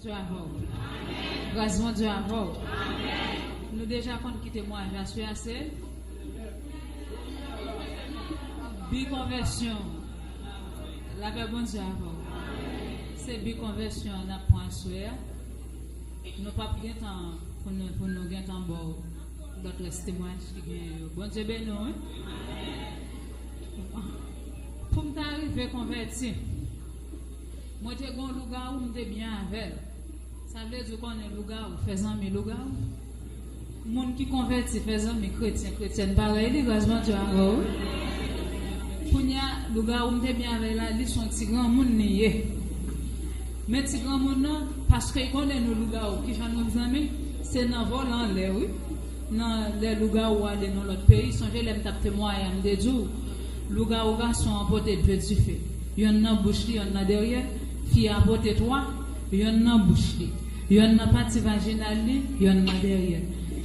Dieu avè w. Gras Bondye avè w. Nou deja konn ki temwayaj la su a se bi konvèsyon w. Lapè Bondye avè w. Se bi konvèsyon an nap pran aswè a. Nou pap gentan pou nou pou nou gentan ba w lòt rès temwayaj ki genyen yo. Bondye beni w wi. Pou m ta rive konvèti. Mwen te gon lougawou m te byen avèl sa vle di ou konnen lougawou fè zanmi lougawou moun ki konvèti fè zanmi kretyen kretyèn parèy li gras Bondye avè w kounya lougawou m te byen avèl la li son ti granmoun li ye men ti granmoun nan paske l konnen nou lougawou kijan nou k zanmi se nan vole anlè wi nan lè lougawou ale nan lòt peyi sonje lè m tap temwaye a m te di w. Lougawou gason an pote de dife, yonn nan bouch li, yonn nan dèryè, fi a pote twa, yonn nan bouch li, yonn nan pati vajinal li, yonn nan dèryè.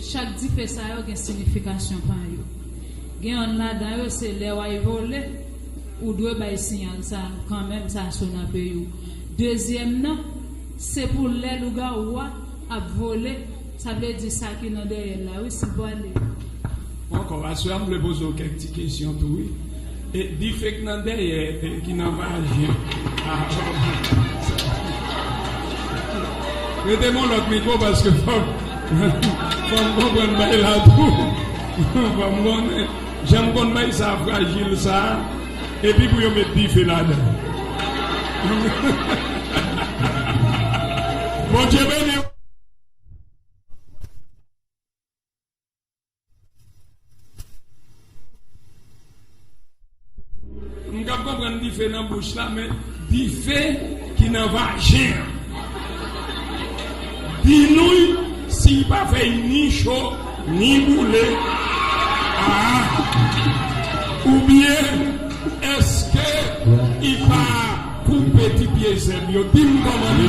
Chak dife sa yo gen sinifikasyon pa yo. Gen yonn ladan yo se lè w ay vole, ou dwe bay siyal sa a kanmenm sa so nan peyi w. Dezyèm nan, se pou lè lougawou a ap vole Sa vle di sa ki nan dèyèl la wi si vwale. Ankò aswè a m vle poze w kèk ti kesyon tou wi e dife k nan dèyè e ki nan vajen a oh sa rete bon lòt mikwo paske fòk fòk m konprann bay la tou fòk m konnen jan m konn bay sa frajil sa epi pou yo met dife ladan l Bondye beni w. M ka konprann dife nan bouch la men dife ki nan vajen an binouy si li pa fè li ni cho ni boule aa oubyen eske li pa koupe ti pye zèb yo dim kòman li.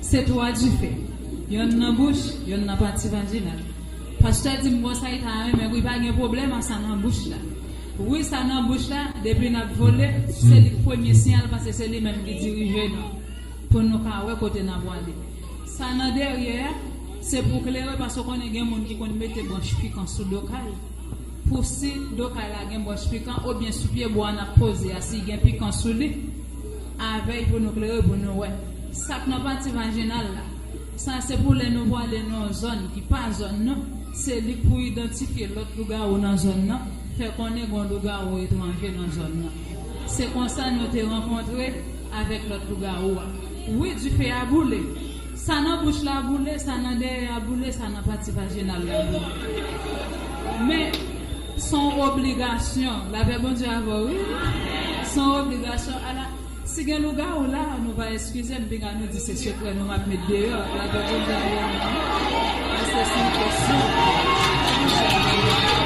Se twa dife, yonn nan bouch, yonn nan pati vajinal. Pastè di m bon sa li ta renmen wi pa gen pwoblèm a sa nan bouch la. Wi sa nan bouch la depi nap vole se li k premye siyal paske se li menm ki dirije nou pou nou ka wè kote nap wale. Sa nan dèryè a se pou klere paske w konnen gen moun ki konn mete branch pikan sou do kay. pou si do kay la gen bwòch pikan obyen sou pye bwa nap poze a si gen pikan sou li avèy pou nou klere pou nou wè sak nan pati vajinal la sa se pou lè nou pwale nan yon zòn ki pa zòn nou se li pou idantifye lòt lougawou nan zòn nan fè konnen gon lougawou etranje nan zòn nan se konsa nou te rankontre avèk lòt lougawou a. Wi dife a boule. Sa nan bouch la boule, sa nan dèyè a boule, sa nan pati vajinal la boule. Men, s on obligasyon. Lapè Bondye avè w wi. S on obligasyon. Ala, si gen lougawou la, nou va eskize m, pinga nou di se sekrè nou m ap met deyò. Lapè Bondye avè nou wi. Paske s on kesyon. Lapè Bondye avè nou.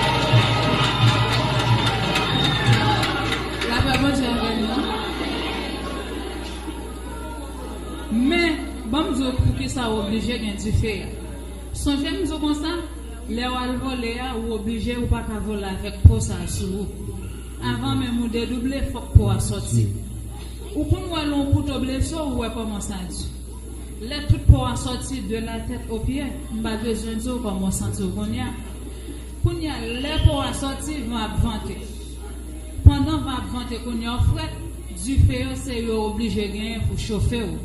Lapè Bondye avè nou. Men, ban m di w poukisa w oblije gen dife a. Sonje m di w konsa, lè w al vole a, ou oblije ou pa ka vole avèk po sa a sou ou. Avan menm ou dedouble, fòk po a soti. Ou konn wè lè on kouto blese w, ou wè kòman sa di. Lè tout po a soti, de la tèt o pye, m pa bezwen di w kòman w santi w kounye a. Kounye a, lè po a soti, van ap vante. Pandan van ap vante kounye a, ou frèt. Dife yo se yo oblije genyen pou chofe w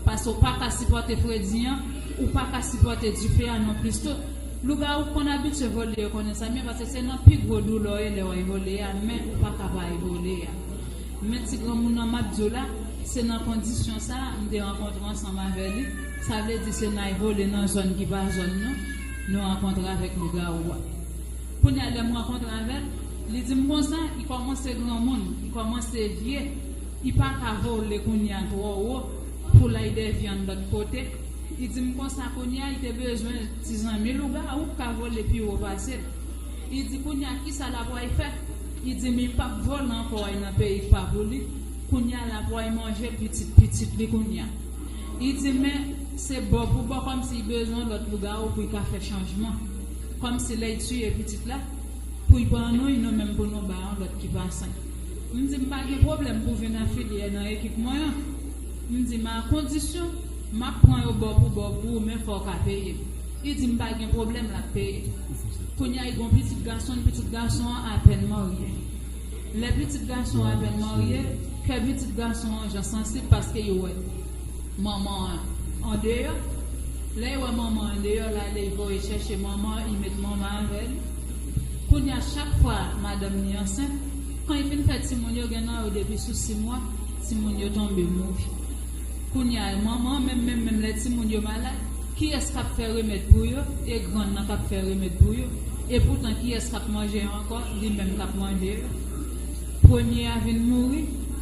paske w pa ka sipòte fredi an, ou pa ka sipòte dife a nonplis tou. Lougawou konn abitye vole yo konnen sa byen paske se nan pi gwo doulè w ye lè w ay vole a men ou pa ka pa ay vole a. Men ti granmoun nan m ap di w la se nan kondisyon sa m te rankontre ansanm avè li sa vle di se nan ay vole nan zòn ki pa zòn nou nou rankontre avèk lougawou a. Kounya lè m rankontre avè l, li di m konsa, I kòmanse granmoun, i kòmanse vye, i pa ka vole kounya twò wo pou l ay dè vyann lòt kote. I di m konsa kounya i te bezwen ti zanmi lougawou k ka vole pi wo pase l. I di kounya kisa l ap ay fè? I di m i p ap vole ankò ay nan peyi k pa pou li, kounya l ap ay manje pitit pitit li kounya. I di men se bò pou bò kòmsi i bezwen lòt lougawou pou i ka fè chanjman. Kom si lèy tiye pitit la pouy pa an nouy nou menm pou nou ba yon lot ki pa sen m di m pa gen pwoblèm pou vin afilye nan ekip mwen an m di men a kondisyon map pran yo bò pou bò pou ou men fòw ka peye m li di m pa gen pwoblèm lap peye kounya li gon pitit gason l pitit gason an apèn marye lè pitit gason an apèn marye kè pitit gason an jan sansib paske yo wè. Manman an andeyò, lè y wè manman an deyò la lè y voye chèche manman an y met manman an avè li. Kounye a chak fwa madanm ni ansent, kan y fin fè timoun yo gen nan yo depi sou simwa timoun yo tonbe mouri. Kounye a manman an menm menm menm lè timoun yo malad kiyès k ap fè remèd pou yo e grann nan k ap fè remèd pou yo e poutan kiyès k ap manje yo ankò li menm k ap manje yo. Premye a vin mouri.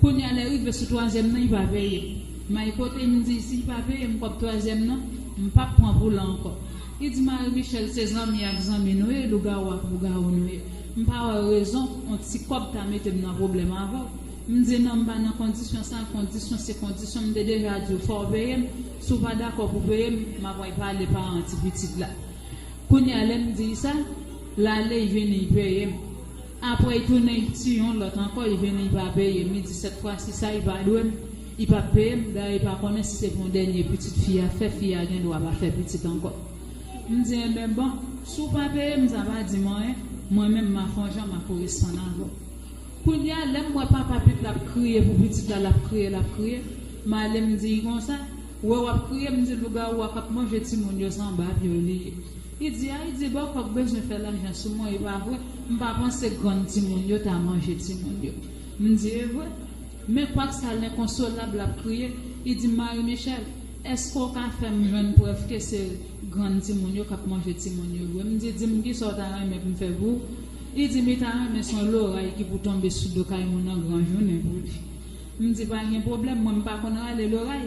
Kounya lè rive sou twazyèm nan li pa peye may kote m di si li pa peye m kòb twazyèm nan m pap pran pou lan ankò li di Marie Michelle se zanmi ak zanmi nou ye lougawou ak lougawou nou ye m pa wè rezon on ti kòb ta mete m nan pwoblèm avèw m di non m pa nan kondisyon sa kondisyon se kondisyon m te deja diw fòw peye m si w pa dakò pou peye m m apral pale paran ti pitit la kounya lè m di sa lale vini peye m. Apre i tounen i tu yon lot anko i vini i pa peye m i di set fwa si sa i pa dwe m i pap peye m dayè i pa konnen si se pou denye pitit fi a fè fi a gen dwa pa fè pitit anko m di enben bon si w pa peye m sa pa di m anyen mwen menm ma fon jan ma koresponn avè w kounye a lè m wè papa pit la ap kriye pou pitit la lap kriye lap kriye m ale m di i konsa wè wap kriye m di lougawou a kap manje timoun yo se anba pye w li ye. Li di a li di bon kòk bezwen fè lajan sou mwen e pa vre m pa panse grann timoun yo ta manje timoun yo m di e vre men kwak sa lenkonsolab lap kriye li di Marie Michelle eske w ka fè m jwenn prèv ke se grann timoun yo kap manje timoun yo vre m di di m kisa w ta renmen pou m fè pou ou li di mi ta renmen son loray ki pou tonbe sou do kay mou nan gran jounen pou li m di pa gen pwoblèm mwen m pa konn rale loray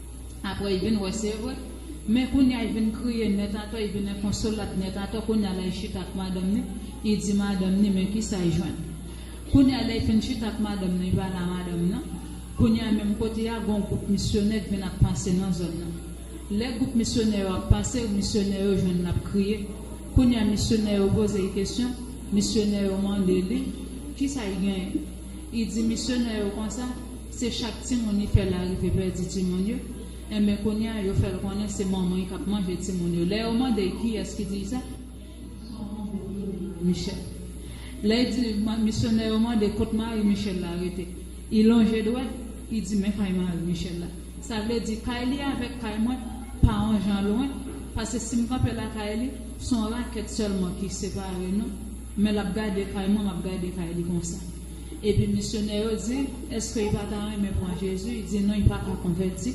Apre i vin wè se vre. Men kounya i vin kriye nèt atò i vin enkonsolab nèt atò kounya la i chita ak madanm ni i di madanm ni men kisa i jwenn kounya lè i fin chita ak madanm nan i pa la madanm nan kounya menm kote a gon gwoup misyonè k vin ap pase nan zòn nan lè gwoup misyonè yo ap pase misyonè yo jwenn lap kriye kounya misyonè yo poze i kesyon misyonè yo mande li kisa i genyen i di misyonè yo konsa. Se chak timoun li fè la rive pèdi timoun yo, enben kounye a yo fè l konnen se manman y k ap manje timoun yo. Lè yo mande y kiyès ki di y sa, Michel. Lè y di misyonè yo mande kot mari Michel la rete, y lonje dwèt, y di men kay mari Michel la. Sa vle di kay li avèk kay mwen pa on jan lwen, pase si m kanpe lakay li, s on rakèt sèlman ki separe nou, men l ap gade kay mwen, m ap gade kay li konsa. Epi misyonè yo di, Èske y pa ta renmen pran Jezi? Y di, Non, y pa ka konvèti.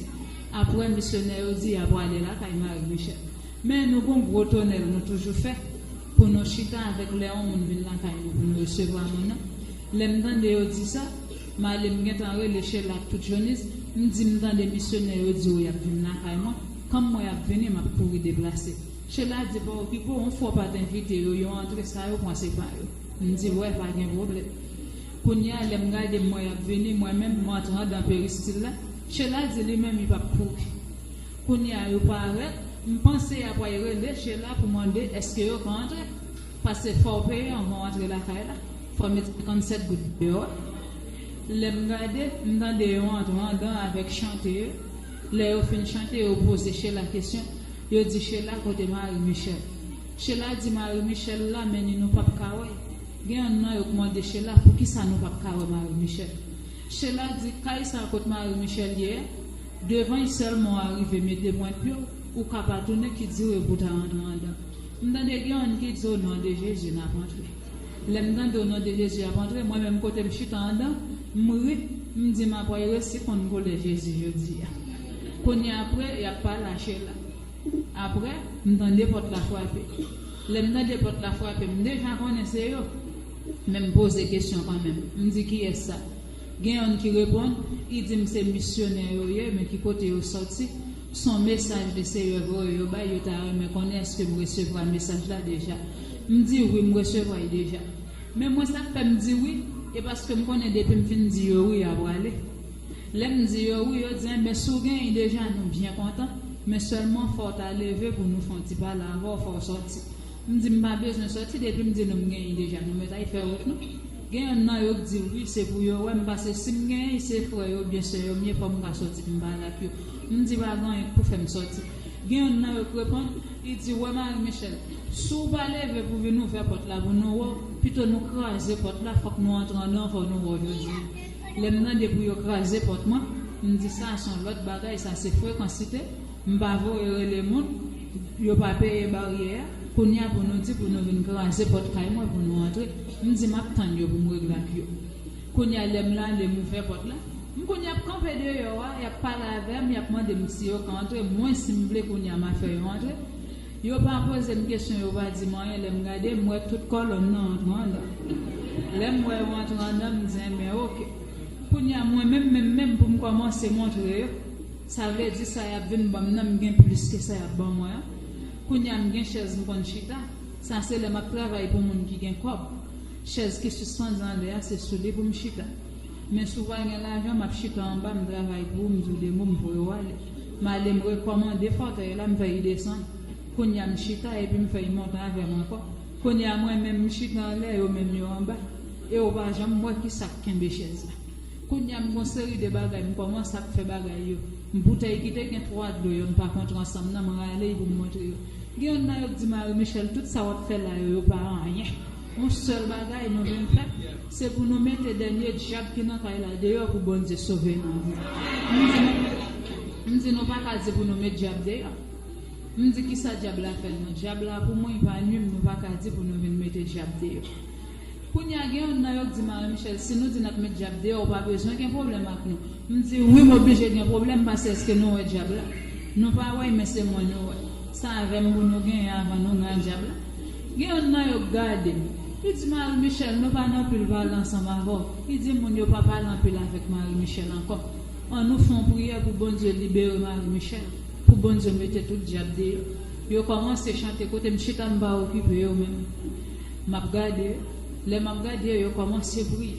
Apre, misyonè yo di y aprale lakay Mari Michèl. Men, nou gon gwo tonèl nou toujou fè pou nou chita avèk lè on moun vin lakay nou pou nou resevwa moun nan. Lè m tande yo di sa, m ale m gentan rele Shella ak tout Jonis, m di, M tande misyonè yo di yo y ap vin lakay mwen. Kòm mwen ap vini, m ap kouri deplase. Shella di, Pa okipe w, on fwa w pa t envite yo, yo antre, sa yo pran se pa yo. M di wè pa gen pwoblèm. Kounye a lè m gade mwen y ap vini mwen menm m antre andan peristil la, Shella di li menm li p ap kouri. Kounye a yo parèt, m panse y apray rele Shella pou mande èske yo ka antre. Pase fò w peye anvan w antre lakay la, fò w met 57 goud deyò a. Lè m gade, m tande yo antre andan an avèk chante yo, lè yo fin chante yo poze Shella kesyon, yo di Shella kote mari Michel. Shella di mari Michelle la men ni nou pap ka wè gen yonn nan yo k mande Shella poukisa nou pap ka wè mari Michelle Shella di kay sa kot mari Michelle ye a devan y sèlman w arive mete pwent pye w ou ka pa tounen ki dire pou w ta antre andan m tande gen yonn ki di o non de Jezi nap antre lè m tande o non de Jezi yap antre mwen menm kote m chita andan m ri m di m apway resi konn koulè Jezi jodi a kounye a apre yap pale a Shella. Aprè, m tande pòt la frape. Lè m tande pòt la frape, m deja konnen se yo. Men m poze kesyon kanmenm. M di kiyès sa? Gen youn ki reponn, I di m se misyonè yo ye, men ki kote yo soti. S on mesaj le Seyè voye yo bay, yo ta renmen konnen èske m resevwa mesaj la deja. M di, Wi, m resevwa l deja. Men mwen sa k fè m di wi, e paske m konnen depi m fin di yo wi, y a prale. Lè m di yo wi, yo di enben si w genyen deja nou byen kontan, men sèlman fò w ta leve pou nou fè yon ti pale avè w, fò w sòti. M di m pa bezwen sòti depi m di nou m genyen deja nou mèt al fè wout nou. Gen yonn nan yo k di wi se pou yo wè m pase si m genyen se frè yo oubyen sè yo m ye fò m ka sòti pou m pale ak yo. M di pa gen anyen k pou fè m sòti. Gen yonn nan yo k reponn, li di wè Marie Michelle, si w pa leve pou vin ouvè pòt la pou nou wè w, pito nou kraze pòt la fòk nou antre andan fò nou wè w jodi. Lè m mande pou yo kraze pòt mwen, m di sa son lòt bagay sa se frekansite, m pa voye rele moun, yo pa peye baryè a, kounye a pou nou di pou nou vin kraze pòt kay mwen pou nou antre, m di map tann yo pou m regle ak yo. Kounye a lè m lale m ouvè pòt la, m konn yap kanpe deyò a, yap pale avè m, yap mande m si yo ka antre, mwen si m vle kounye a ma fè yo antre. Yo pa pozem kesyon yo pa dim anyen lèm gade m wè tout kòlonn nan antre andan lèm wè yo antre andan m di enben ok kounya mwen menm menm menm poum kòmanse montre yo sa vle di sa yap vin banm nan m gen plis ke sa yap ban mwen an kounya m gen chèz m konn chita sa se lè map travay pou moun ki gen kòb chèz ki sispann anlè a se sou li poum chita men sou pa gen lajan map chita anba m travay pou ou m di w de mo m voye w ale. M ale m rekòmande fòtèy la, m fè y desann. Kounye a m chita epi m fè y monte avè m ankò. Kounye a mwen menm m chita anlè, yo menm yo anba. E ou pa janm wè ki sa k kenbe chèz la. Kounye a m gen yon seri de bagay m kòmanse ap fè bagay yo. M boutèy ki te gen twa dlo yo n pa kontre ansanm nan m rale y pou m montre yo. Gen youn nan yo k di Marie Michelle tout sa w ap fè la yo yo pa anyen. Yon sèl bagay nou vin fè se pou nou mete dènye dyab ki nan kay la deyò pou Bondye sove nou. M di nou pa ka di pou nou met dyab deyò. M di kisa dyab la fè nou? Dyab la pou mwen pa nwi m nou pa ka di pou nou vin mete dyab deyò. Kounye a gen yonn nan yo k di m Marie Michèle si nou di n ap met dyab deyò ou pa bezwen gen pwoblèm ak nou. M di wi m oblije gen pwoblèm pase eske nou wè dyab la? Nou pa wè y men se mwen nou wè. Sa avè m pou nou genyen avan nou gen ak dyab la? Gen yonn nan yo k gade m. Li di Mari Michèl, nou pa nan anpil pale ansanm avè w. Li di moun yo pa pale anpil avèk Mari Michèl ankò. An nou fon priyè pou Bondye libere Mari Michèl, pou Bondye mete tout dyab deyò. Yo kòmanse chante kote m chita m pa okipe yo menm. M ap gade yo. Lè map gade yo yo kòmanse priye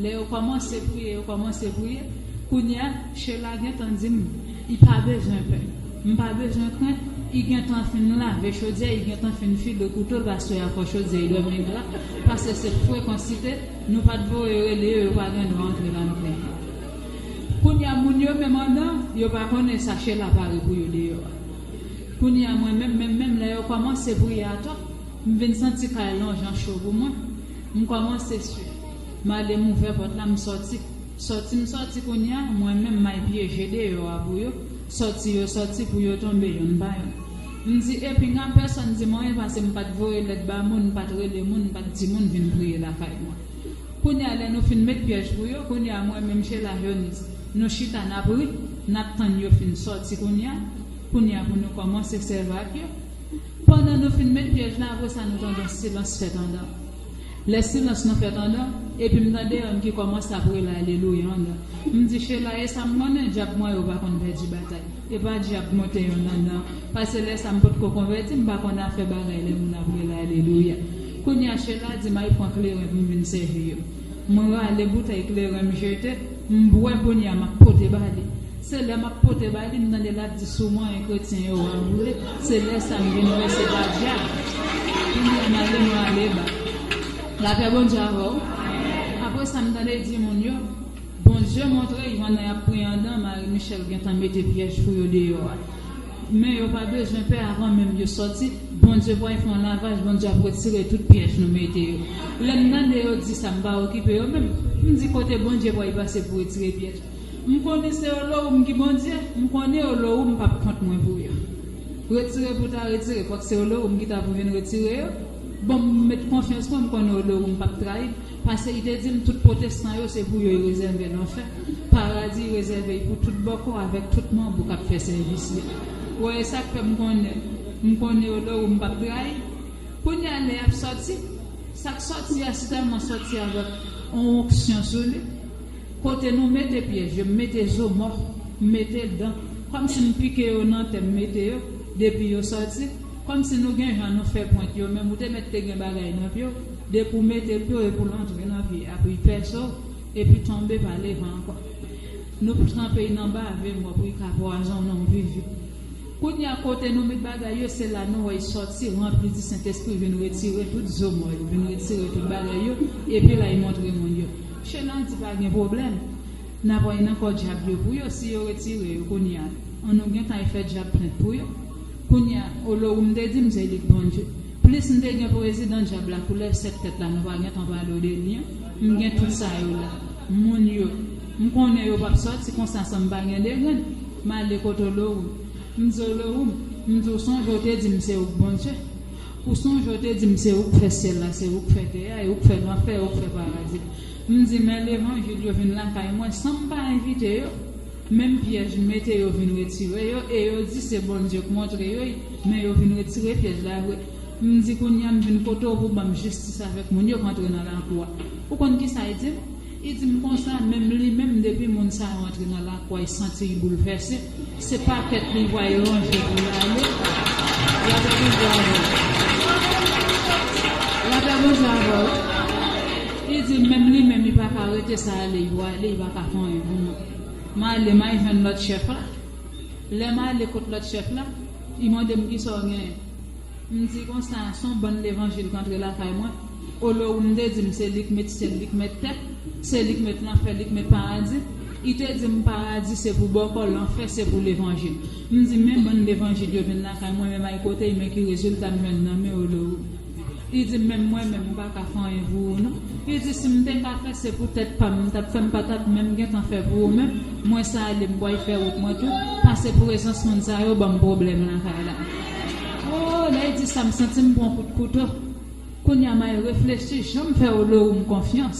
lè yo kòmanse priye yo kòmanse priye kounya Shella gentan dim I pa bezwen pè m pa bezwen krent I gentan fin lave chodyè I gentan fin file kouto l aswè a fò chodyè I dòmi gra pase se frekansite nou pat voye rele yo yo pa gen dwa antre la nou plenyen kounya moun yo menm andan yo pa konnen sa Shella pare pou yo deyò a kounya mwen menm menm menm lè yo kòmanse priye atò. M vin santi kay lan jan cho pou mwen. M kòmanse swi. M ale m ouvè pòt la m sòti. Sòti m sòti kounye a mwen menm may pye je deyò a pou yo. Sòti yo sòti pou yo tonbe yonn pa yonn. M di e pinga pèsonn di m anyen pase m pa t voye lèt ba moun, m pa t rele moun, m pa t di moun vin priye lakay mwen. Kounye a lè nou fin met pyèj pou yo, kounye a mwen menm Sheila Jonise nou chita n ap ri, n ap tann yo fin sòti kounye a, kounye a pou nou kòmanse sèvi ak yo. Pandan nou fin met pyèj la apre sa nou tande yon silans fèt andan. Lè silans nan fèt andan, epi m tande yonn ki kòmanse ap rele alelouya andan. M di Shela e sa m konnen dyab mwen yo pa konn pèdi batay. E pa dyab mwen te yonn andan, pase lè sa m potko konvèti m pa konn afè bagay lè moun ap rele alelouya. Kounye a Shela di m al pran kleren pou m vin sèvi yo. M rale boutèy kleren m jete, m bwè kounye a m ap pote ba li. Se lè m ap pote ba li m tande l ap di sou mwen e kretyen yo a boule, se lè sa m vin wè se pa dyab. Kounye a m ale m rale ba. Lapè Bondye avè w. Apre sa m tande l di moun yo, Bondye montre jan nan y ap priye andan Marie Michelle gentan mete pyèj pou yo deyò a. Men yo pa bezwen pè avan menm yo sòti Bondye pral fè yon lavaj Bondye ap retire tout pyèj nou mete yo lèm tande yo di sa m pa okipe yo menm m di kote Bondye pral pase pou retire pyèj m konnen se yo lò ou m ki Bondye m konnen yo lò ou m pap kont mwen pou yo retire pou ta retire fòk se yo lò ou m ki ta pou vin retire yo bon m met konfyans mwen m konnen yo lò ou m pap trayi m. Pase li te dim tout pwotestan yo se pou yo y rezève lanfè, paradi rezève y pou tout bòkò avèk tout manbo kap fè sèvis li. Wè esak fè m konnen m konnen yo lè ou m pap trayi. Kounye a lè yap sòti, sak sòti a sèlman sòti avèk on onksyon sou li. Kote nou mete pyèj yo m mete zo mò, m mete dan, kòmsi m pike yo nan tè m mete yo, depi yo sòti, kòmsi nou gen jan nou fè pwent yo menm ou te mèt te gen bagay nan pye w. Depi w mete pye w epi w antre nan vye abri pèso epi tonbe pa leve ankò. Nou p tranpe y nan bave mò pou y ka pwazonnen w viv vit. Kounye a kote nou met bagay yo se la nou wè y sòti ranpli di Sentespri vin retire tout zo mò yo, vin retire tout bagay yo epi la y montre moun yo. Shenan di pa gen pwoblèm, n ap an nan kò dyab yo pou yo si yo retire yo kounye a. An nou gentan y fè dyab plent pou yo. Kounya olo ou m te di m se lik bon je plis m te gen prezidan dyab la koulèv 7 tèt la nou pa gentan pale de li an m gen tout sa yo la moun yo m konnen yo pap sòti konsa san m pa gen degrenn m ale kot olo ou m di olo ou m di ou sonje ou te di m se ou k bon je ou sonje ou te di m se ou k fè syèl la se ou k fè tè a e ou k fè lanfè ou k fè paradi m di men levanjil yo vin lakay mwen san m pa envite yo Menm pyèj mete yo vin retire yo e yo di se Bondye k montre yo y men yo vin retire pyèj la vre m di kounya m vin kote w pou banm jistis avèk moun yo k antre nan lakou a ou konn kisa y di m y di m konsa menm li menm depi moun sa yo antre nan lakou a y santi y boulvèse se pakèt li vwa y ranje pou y ale la pè Bondye avè w la pè Bondye avè w y di m menm li menm y paka rete sa ale y vwa ale y paka fè anyen pou mwen. M ale, m al jwenn lòt chèf la. Lè m ale kot lòt chèf la, li mande m kisa w genyen. M di konsa, s on bann levanjil k antre lakay mwen. Olye w m te di m se li k met syèl, li k met tè, se li k met lanfè, li k met paradi, li te di m paradi se pou bòkò, lanfè se pou levanjil. M di men bann levanjil yo vin lakay mwen, men m al kote y, men ki rezilta m jwenn nan men Olye w. Li di menm mwen menm m pa ka fè anyen pou ou non li di si m te ka fè se pou tèt pam m tap fè m pa tap menm gentan fè pou ou menm mwen sa ale m bway fè wout mwen tou pase prezans moun sa yo banm pwoblèm lakay la oo lè l di sa m santi m pran kout kouto kounya may reflechi janm fè Olowu m konfyans.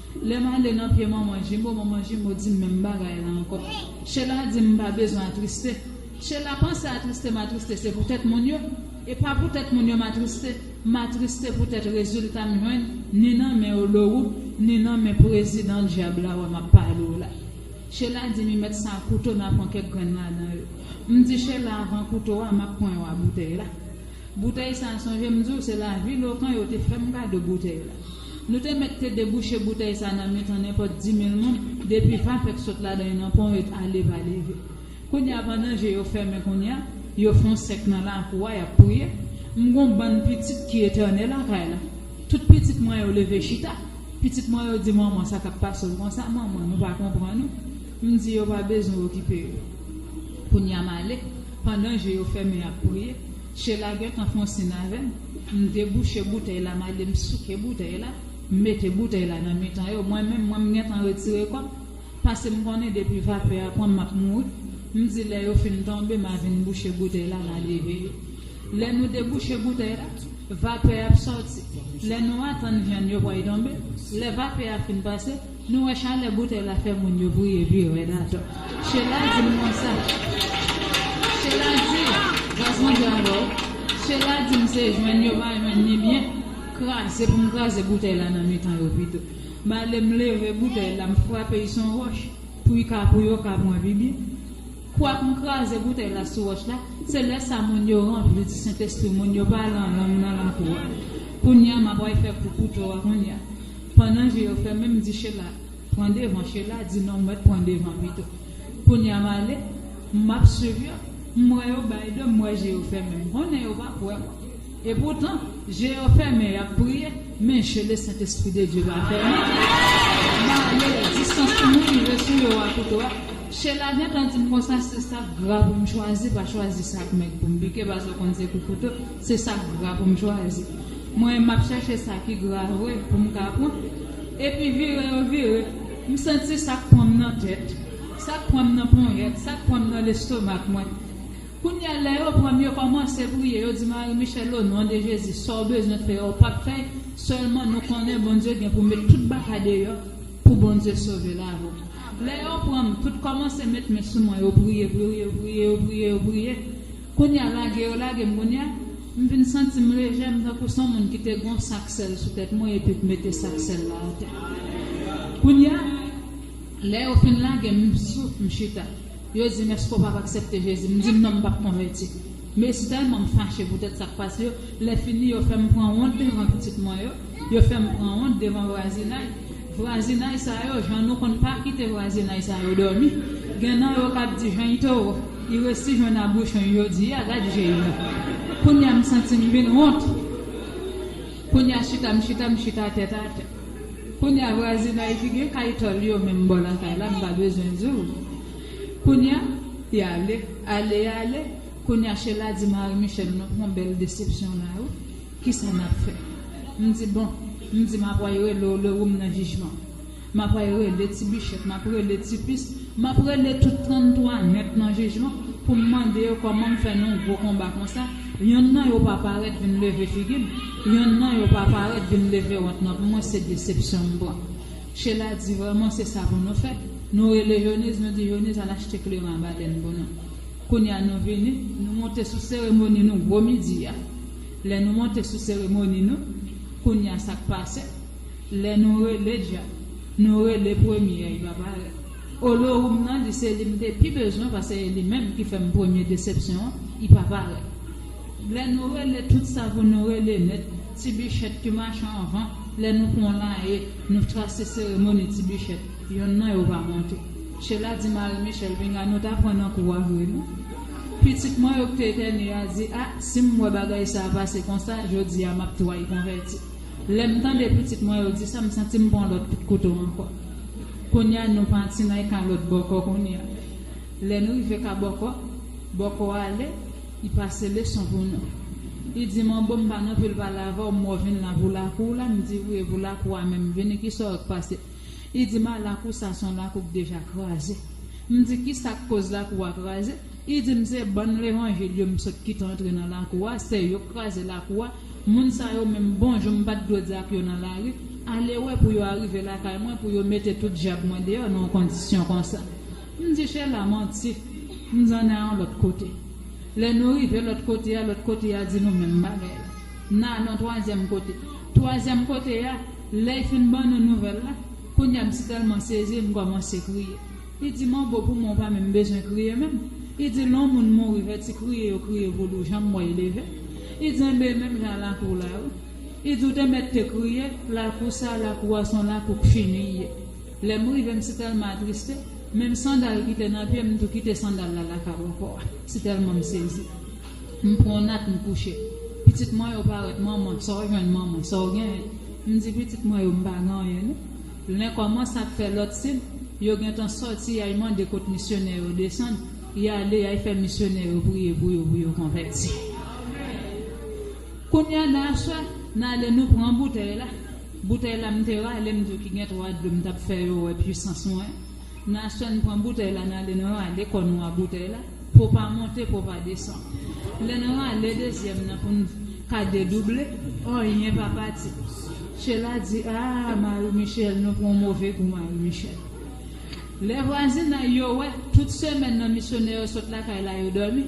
Lè m ale nan pye manman Jimo, manman Jimo di m menm bagay la ankò. Shella di m m pa bezwen atriste. Shella panse atriste m atriste se poutèt moun yo. E pa poutèt moun yo m atriste, m atriste poutèt rezilta m jwenn ni nan men Oloru, ni nan men prezidan dyab la wè m ap pale w la. Shella di m y mèt sa kouto nan pran kèk grenn ladan yo. M di Shella avan kouto a m ap pran yon a boutèy la. Boutèy sa sonje m di w se Lavilokan yo te fè m kado boutèy la. Nou te mèt te debouche boutèy sa nan mitan nenpòt dimil moun depi va fèk sot ladan y nan pon yo t ale va leve. Kounye a pandan je yo fèmen kounye a, yo fon sèk nan lakou a y ap priye, m gon bann pitit ki etène lakay la. Tout pitit mwen yo leve chita. Pitit mwen yo di manman sa k ap pase w konsa manman nou pa konprann ou. M di yo pa bezwen okipe yo. Kounye a m ale pandan je yo fèmen y ap priye. Shela gentan fon sin avè m. M debouche boutèy la m ale m souke boutèy la, m mete boutèy la nan mitan yo. Mwen menm, mwen m gentan retire kò m. Pase m konnen depi vapè a pran m m ap mouri. M di lè yo fin tonbe m a vin bouche boutèy la m a leve yo. Lè nou debouche boutèy la, vapè ap sòti. Lè nou atann vyann yo pral tonbe. Lè vapè a fin pase, Nou wè chalè boutèy la fè moun yo briye pi rèd atò. Shella di m konsa. Shella di, Raz mwen jwe avè w. Shella di m se jwenn yo pa jwenn ni byen kraze pou m kraze boutèy la nan mitan yo pito. M ale m leve boutèy la m frape y s on wòch pou y ka pou yo ka pran pi byen. Kwak m kraze boutèy la sou wòch la, se lè sa moun yo ranpli di Sentespri moun yo pa lan lang nan lakou a. Kounya m ap way fè kou kouto a kounya. Pandan je yo fèmen m di Shella pran devan Shella di non w mèt pran devan pito. Kounya m ale m ap swiv yo m wè yo bay do m wè je yo fèmen m konnen yo pap wè mwen. E poutan, je yo fèmen, y ap priye, men je Lesentespri de Dye pa fèmen. Bale distans pou mwen rive sou yo a tou dwat. Shella gentan di m konsa, Se sa k gra pou m chwazi, pa chwazi sa k mèg pou m pike paske w konn se kou kouto, se sa k gra pou m chwazi. Mwen, m ap chèche sa ki gra vre pou m ka pran. Epi vire yo vire, m santi sa k pran m nan tèt, sa k pran m nan ponyèt, sa k pran m nan lestomak mwen. Kounyea lè yo pranm yo kòmanse priye yo di Marie Michelle o non de Jezi sòw bezwen fè ou pap fè sèlman nou konnen Bondye gen pou met tout bagay deyò pou Bondye sove lavi w lè yo pranm tout kòmanse met men sou mwen yo priye priye yo priye yo priye yo priye kounyea lage yo lagem kounyea m vin santim lejè m tankou son moun ki te gon sak sèl sou tèt mwen epi k mete sak sèl la atè kounyea lè yo fin lagem m souf m chita. Yo dim eske w pap aksepte Jezi m di non m pap konvèti Mesi tèlman m fache poutèt sak pase yo lè fini yo fèm pran wont devan pitit mwen yo yo fèm pran wont devan vwazinay vwazinay sa yo jan nou konn pa kite vwazinay sa yo dòmi gen nan yo kap di jeny towo i resi jwenn a bouchony jodia gad je yo kounya m santi m vin wont kounya chita m chita m chita tèt atè. Kounya vwazinay ki gen kay tòl yo menm bò lakay la m pa bezwen di w kounya y ale ale y ale kounya Shella di mari Michel nou pran bèl desepsyon la wi kisa n ap fè m di bon m di m ap way rele w le ou m nan jijman m ap way rele ti bichèt m ap rele ti pis m ap rele tout 33 nèt nan jijman pou m mande yo kòman m fè nan gwo konba konsa Yonn nan yo pa parèt vin leve figi m, yonn nan yo pa parèt vin leve wont nan pou mwen se desepsyon m pran. Shella di vrèman se sa pou nou fè, nou rele Jonese nou di Jonese al achte kleren a balèn pou nou. Kounye a nou vini, nou monte sou seremoni nou gwo midi a. Lè nou monte sou seremoni nou, kounye a sa k pase, lè nou rele djab, nou rele premye a li pa parèt. Olorum nan li se li m te pi bezwen pase e li menm ki fèm premye desepsyon i pa parèt lè nou rele tout sa pou nou rele nèt ti bichèt ki machan anvan lè nou pran la e nou trase seremoni ti bichèt yonn nan yo pa monte chela di mari michèl pinga nou ta pran nan kou a vre nou pitit mwen yo ki te etènye a di a si m wè bagay sa pase konsa jodi a map tway konvèti Lèm tande pitit mwen yo disa m santim pran lòt kout kouto ankò kounya nou pati nan ka lòt bòkò kounya lè nou rive ka bòkò bòkò ale li pase leson pou nou li dim an bon m pa nan pil pale avèw m wèw vin la pou lakou w la m di wi e pou lakou a menm vini kisa w k pase li dim a lakou sa son lakou k deja kraze m di kisa k koz lakou a kraze li dim se bann levanjil yo m sot kite antre nan lakou a se yo k kraze lakou a Moun sa yo menm bon jon m pat dwe di ak yo nan lari, ale wè pou yo arive lakay mwen pou yo mete tout djab mwen deyò nan yon kondisyon konsa. M di Shella manti, m di ann al yon lòt kote. Lè nou rive lòt kote a, lòt kote a di nou menm bagay la. N al yon twazyèm kote. Twazyèm kote a, lè y fin ban nou nouvèl la, kounye a m sitèlman sezi m kòmanse kriye. Li di m'en bo pou mwen ou pa menm bezwen kriye menm li di lè on moun mouri fè ti kriye yo kriye pou li ou janm wèl leve li di enben menm jan a lakou w la wi li di ou te mèt te kriye lakou sa lakou a son lakou k fini li ye lè m rive m si tèlman atriste menm sandal ki te nan pye m tou kite sandal la lakay w ankò a si tèlman m sezi m pran on nat m kouche pitit mwen yo parèt manman sa w jwenn manman sa w genyen m di pitit mwen yo m pa gen anyen non. Lè kòmans ap fè lòt sib, yo gentan sòti yay mande kot misyonè yo desann, y ale yay fè misyonè yo priye pou yo pou yo konvèti. Kounya nan aswè, n ale nou pran boutèy la, boutèy la m te rale m diw ki gen 3 dlo m t ap fè yo wè pwisans mwen, nan aswè n pran boutèy la n ale nou rale kò nou a boutèy la, Po pa monte po pa desann. Lè n rale dezyèm nan pou n ka dedouble, anyen pa pati. Shela di aa Marie Michelle nou pran move kou Marie Michelle. Lè vwazinay yo wè tout semèn nan misyonè yo sot lakay la yo dòmi,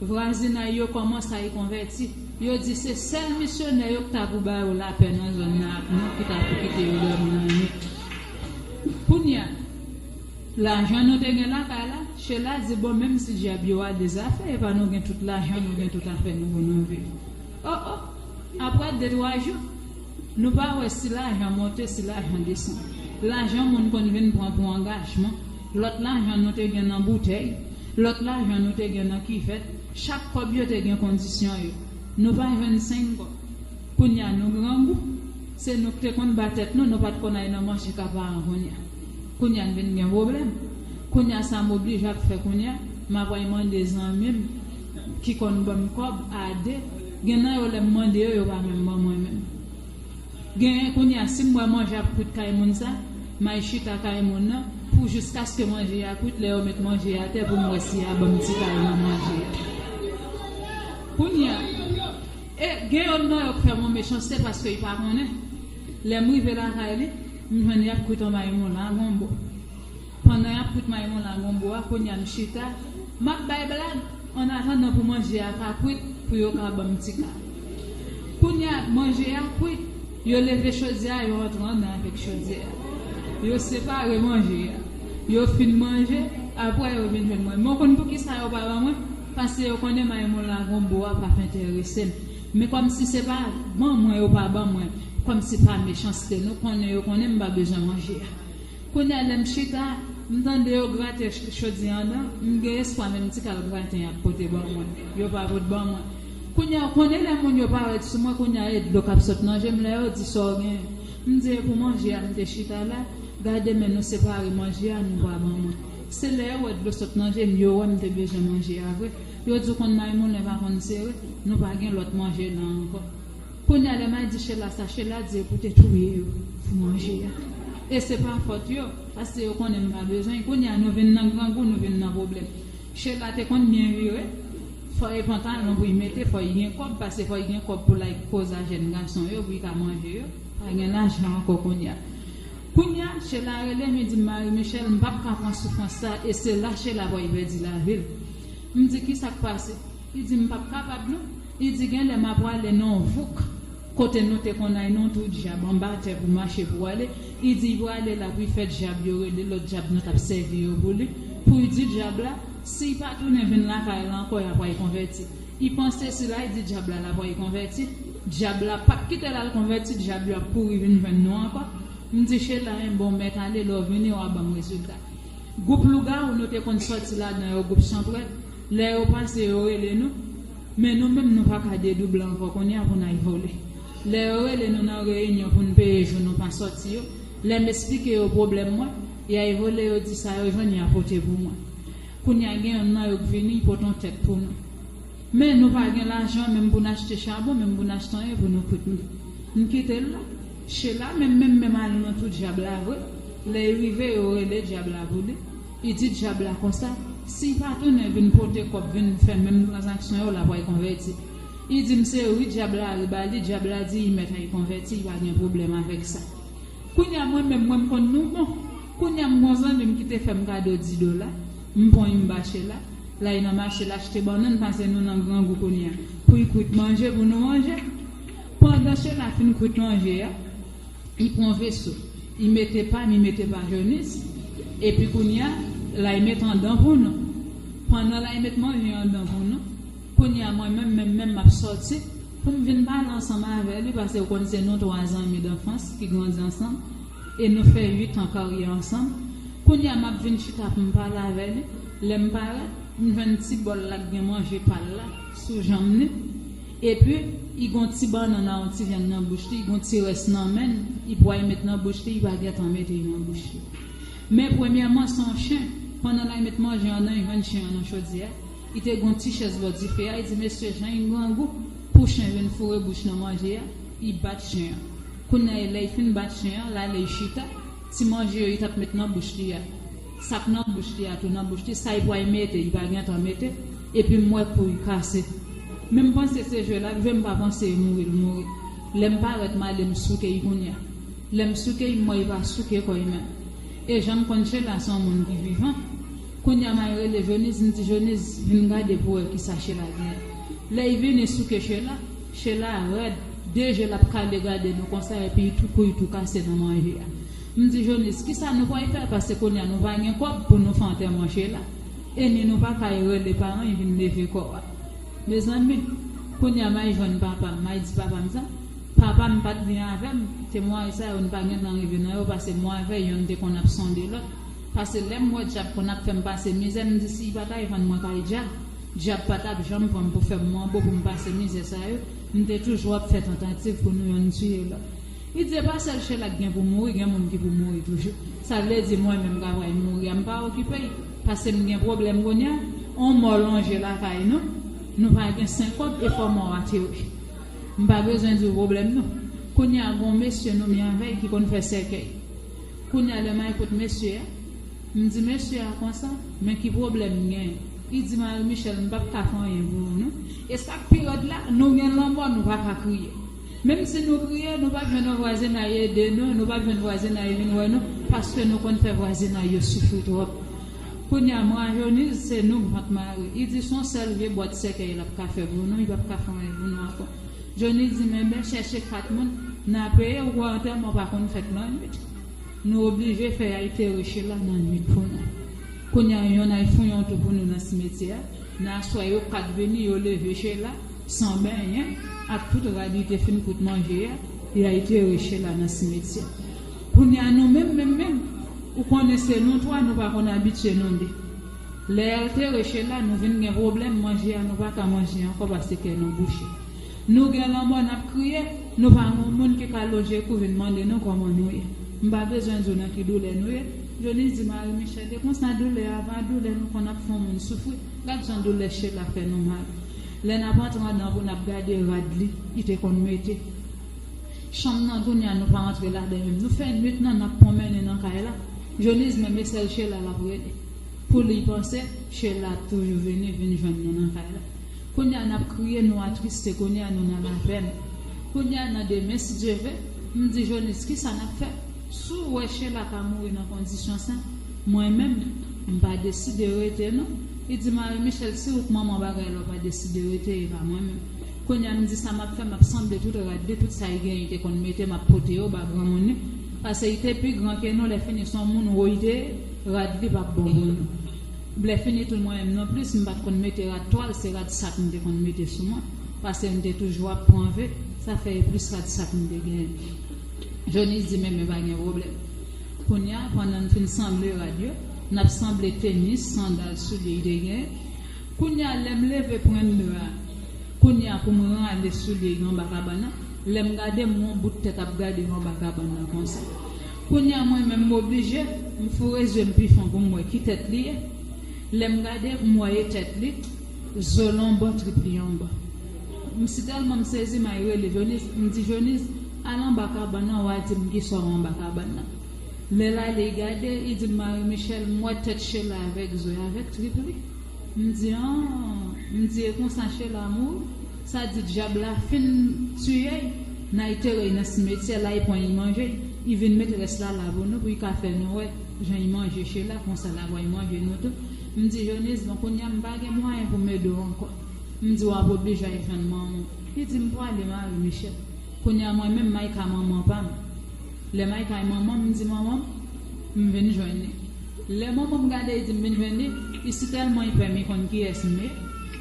vwazinay yo kòmanc ay konvèti. Yo di se sèl misyonè yo k ta pou ba yo lapè nan zòn nan ak nou ki ta pou kite yo dòmi lannwit. Kounya. Lajan nou te gen lakay la, Shella di bon menm si dyab yo a de zafè epa nou gen tout lajan nou gen tout afè nou bon nou viv oh oh aprè de twa jou nou pa wè si lajan monte si lajan desann lajan moun konn vin pran pou angajman lòt lajan nou te gen nan boutèy lòt lajan nou te gen nan kivèt chak kòb yo te gen kondisyon yo nou pa jwenn seng kòb kounya nou grangou se nou k te konn ba tèt nou nou pat konn ay nan manje ka paran kounya. Kounya n vin gen pwoblèm. Kounya sa m oblije ap fè kounya, m ap al mande zanmi m ki konn ban m kòb a 2. Gen nan yo lè m mande yo, yo pa menm ban mwen menm. Genyen kounya si m wè manje ap kwit kay moun sa, m al chita kay moun nan pou jiskaske manje a kwit lè yo met manje atè pou m wè si y a ban m ti kal nan manje a. Kounya e gen yonn nan yo k fè m yon mechanste paske y pa konnen. Lè m rive lakay li. M jwenn yap kwit an mayi moun la gonbo pandan yap kwit mayi moun la gonbo a kounya m chita map bay blag an atandan pou manje a ka kwit pou yo ka banm ti ka kounya manje a kwit yo leve chodyè a yo antre andan avèk chodyè a yo separe manje a yo fin manje aprè yo vin jwenn mwen mwen konn poukisa yo pa ban mwen paske yo konnen mayi moun la gonbo a pap enteresem. Men kòmsi se pa ban mwen yo pa ban mwen kòmsi pa mechanste nou konnen yo konnen m pa bezwen manje a kounye a lè m chita m tande yo grate chodyè an andan m gen espwa menm ti kal graten y ap pote ban mwen yo pa pot ban mwen kounye a ou konnen lè moun yo parèt sou mwen kounye a e dlo k ap sot nan je m lè yo di sa w gen m di e pou manje a m te chita la gade men nou separe manje a nou pa ban mwen se lè yo wè dlo sot nan je m yo wè m te bezwen manje a vre. Yo di w konn may moulen pa konn sere, nou pa gen lòt manje nan ankò. Kounye a lè may di Shella sa, Shella di yo pou te touye yo pou manje a. E se pa fòt yo, paske yo konnen nou pa bezwen l. Kounye a nou vin nan grangou, nou vin nan pwoblèm. Shella te konn byen vire, fò e pantalon pou y mete, fò y gen kòb, paske fò y gen kòb pou l al koze a jèn gason yo pou y ka manje yo. Pa gen lajan ankò kounye a. Kounye a, Shella rele m, li di m, Marie-Michelle, m pap ka pran soufrans sa a. E se la Shella wè y pèdi lavi l. M di, Kisa k pase? Li di, M pap kapab non. Li di, Gen lè m apwale nan yon vouk kote nou te konn ay nan twou dyab anba atè pou mache pou ale. Li di, Y prale la pou y fè dyab yo rele lòt dyab nou t ap sèvi yo pou li, pou y di dyab la, si y pa tounen vin lakay la ankò y apway konvèti. Y panse sila y di dyab la l apway konvèti, dyab la pap kite l al konvèti, dyab yo ap kouri vin jwenn nou ankò. M di, Chela, 1 bon, mèt ale, lè w vini w a ban m rezilta. Gwoup lougawou nou te konn sòti ladan yo gwoup chanpwèt lè yo pase yo rele nou men nou menm nou pa ka dedouble ankò kounya pou n al vole lè yo rele nou nan reyinyon pou n peye jou nou pa sòti yo lè m esplike yo pwoblèm mwen y al vole yo di sa yo jwenn y a pote pou mwen kounya gen youn nan yo k vini y pot on tèt pou nou men nou pa gen lajan menm pou n achte chabon menm pou n achte anyen pou nou kout m kite l la. Shella menm menm menm al nan tou dyab la vre lè y rive yo rele dyab la pou li y di dyab la konsa si y pa tounen vin pote kòb vin fè menm tranzaksyon yo l ap y konvèti y di m se yo wi dyab la ri ba li dyab la di y mèt y konvèti y pa gen pwoblèm avèk sa kounya mwen menm mwen m konn nou bon kounya m gon zanmi m ki te fè m kado 10 dola m pwan y m ba Shella la y nan mache l achte bannann pase nou nan grangou kounya pou y kwit manje pou nou manje. Pandan Shena fin kwit manje a, li pran veso, li mete pa, li mete pa Jonis, epi kounye a, lay met andan pou nou. Pandan lay met manje andan pou nou, kounye a mwen menm menm menm m'ap sòti pou m vin pale ansanm avè li pase ou konn se nou twa zanmi danfans ki grandi ansanm e nou fè uit an karyè ansanm. Kounye a m'ap vin chita pou m pale avè li, lè m parèt, m jwenn ti bòl la k gen manje pa l la. sou janm li epi i gon ti bannann a yon ti vyann nan bouch li i gon ti rès nan menn i pway met nan bouch li i pa gentan mete nan bouch li men premyèman se yon chen pandan lay met manje an nan i jwenn chen an nan chodyè i te gon ti chèz bò dife a i di mesye jan i grangou pou chen vin foure bouch nan manje a i bat chen an kounya e lè i fin bat chen an lale i chita ti manje yo i tap met nan bouch li a. Sak nan bouch li a tou nan bouch li sa li pwal mete li pa gentan mete epim wè kou li kase menm panse se jwe lap jwe mpa panse e mouri l mouri lèm parèt male m souke li kounya lèm souke li m wè li pa souke kò li menm e janm konn Shella son moun ki vivan kounya mal rele Joniz m di Joniz vin gade pou wè kisa Shella gen lè li vini souke Shella Shella rèd de je lap kale gade nou konsa epi li tou kou li tou kase nan manje a. M di Jonis, kisa nou pway fè pase kounya nou pa gen kòb pou nou fè antèman Chela e ni nou pa kay rele paran y vin leve kò a. Mezanmi, kounya may jwenn papa m, may di papa m sa, papa m pat byen avè m, temway sa yo n pa gen tan rive nan yo pase mwen avè yonn te konn ap sonde lòt, pase lè m wè dyab konn ap fè m pase mizè m di si y pa kay vann mwen kay dyab, dyab pa tap janm pran m pou fè m manbo pou m pase mizè sa yo, m te toujou ap fè tantativ pou nou yonn tiye lòt. Li di epa sèl Shella ki gen pou mouri gen moun ki pou mouri toujou sa vle di mwen menm kap ray mouri a m pa okipe y pase m gen pwoblèm kounya on mò lonje lakay nou nou pa gen senkob e fò mò a te wè m pa bezwen di w pwoblèm nou kounya gon mesye nou mi avè y ki konn fè sèkèy kounya lè may kot mesye a m di mesye a konsa men ki pwoblèm m gen li di Marie Michelle m pap ka fè anyen pou ou non e sak pi rèd la nou gen lanmò nou pa ka kriye. Menm si nou kriye nou pap jwenn yon vwazinay ede nou, nou pap jwenn vwazinay vin wè nou paske nou konn fè vwazinay yo soufri twòp. Kounya Mrajoniz se nou vant mare. I di son sèl vye bwat sèkèy lap ka fè pou nou, i pap ka fon anyen pou nou ankò. Joni di men ben chèche 4 moun na peye ou kwè antèman ou pa konn fèt nan nwit. Nou oblije fè yay tere Shela nan nwit pou nou. Kounya yon nay fouyon tou pou nou nan simetyè a. Nan aswè yo 4 vini yo leve Shela. San benyen, ak tout rad li te fin kout manje a, li al klere Shela nan simetyè. Kounye a nou menm menm menm, ou konnen se nou twa nou pa konn abitye nou de. Lè y al klere Shela nou vin gen pwoblèm manje a nou pa ka manje ankò pase kè nou bouche. Nou gen lanmò n ap kriye, nou pa gen yon moun ki ka lonje kou vin mande nou kòman nou ye. M pa bezwen di w nan ki doulè nou ye. Jonis di Mari Michèl, e konsa doulè a va, doulè nou konn ap fè yon moun soufri. Gad jan doulè Shela fè nou mal. Lè nap antre andan pou nap gade rad li li te konn mete. Chanm nan kounya nou pa antre ladan menm nou fè nwit nan nap pwonmennen nan kay la Jonise menm e sèl Shella lap rele pou li panse Shella ap toujou vini vin jwenn nou nan kay la kounya nap kriye nou atriste kounya nou nan lapèn kounya nan demen si Dye ve m di Jonise kisa nap fè sou wè Shella ka mouri nan kondisyon sa. Mwen menm m pa deside rete non Li di Marie Michel si ou k manman bagay la ou pa deside rete e pa mwen menm Kounye a m di sa map fè map sanble tout rad li tout sa y genyen y te konn mete map pote yo ba granmoun li pase y te pi gran ke nou lè fini son moun woy te rad li pap bon pou nou Lè fini tou mwen menm non plis m pat konn mete rad twal se rad sak m te konn mete sou mwen pase m te toujou ap pran ve sa fè e plis rad sak m te genyen Jonis di men men pa gen pwoblèm. Kounya pandan n fin sanble rad yo n ap sanble tenis sandal soulye y te gen Kounya lè m leve pren mur a Kounya pou m rale soulye y anba kabann nan Lè m gade m won bout tèt ap gade y anba kabann nan konsa Kounya mwen menm m oblije m foure zye m pi fon pou m wè ki tèt li ye Lè m gade m wè e tèt li Zo l anba trip li anba M si tèlman m sezi may rele Joniz m di Joniz Al anba kabann nan wa dim kisa w anba kabann nan lè lale i gade i di Marie Michelle m wè tèt Shella avèk zo avèk trip li m di an m di e konsa Shella mouri sa di dyab la fin tiye y nan y tere y nan simetyè la y pran y manje y y vin met rès la la pou nou pou y ka fè nou wè jan y manje Shella konsa la pran y manje nou tou m di Jonise bon kounya m pa gen mwayen pou m ede w ankò m di w ap oblije al jwenn manman w li di m prale Marie Michelle. Kounya mwen menm Micah manman pam lè Micah y manman m di manman m m vin jwenn li lè manman m gade y di m vin jwenn li y sitèlman y pè m y konn kiyès m ye